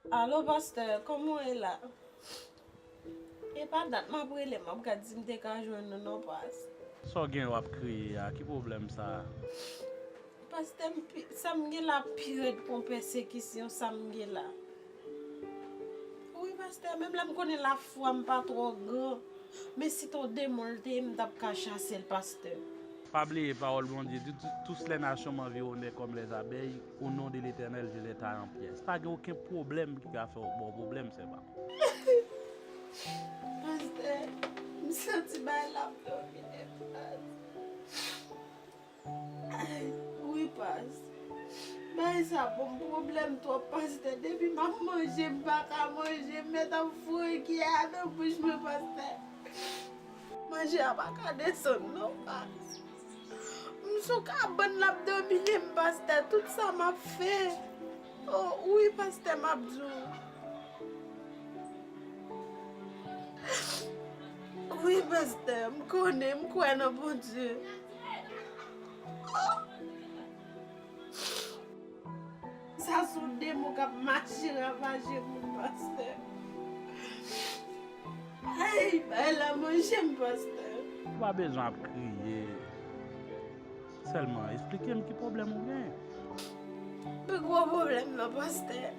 Alo pastè kòman w ye la e pa dat map rele map gad si m te ka jwenn ou non pas. Sa w gen wap kriye a ki pwoblèm sa. Pastè m pi sa m gen la pi rèd kon pèsekisyon sa m gen la wi pastè menm lè m konnen lafwa m pa twò gran men si ton demon l te ye m tap ka chase l pastè. Pa bliye pawòl Bondye di tous les nations m'environnèrent comme les abeilles. O non de letènèl je lèta an pyès pa gen oken pwoblèm ki ka fè w baw pwoblèm sè pam. Pastè m santi bay la ap domine past ayy wi past bay sa banm pwoblèm twòp pastè depi map manje m paka manje m mèt ap voye kiyè a nan bouch mwen pastè manje a paka desann non past. M sou kabann lap domine'm pastè tout sa map fè oh wi pastè map di w wi pastè m konnen m kwè nan Bondye oh. Sa son demon kap mache ravaje moun pastè. Ayy bay la manjem pastè. Ou pa bezwen ap kriye. Selman esplikem ki pwoblem ou gen. Pi gwo pwoblem nan pastè.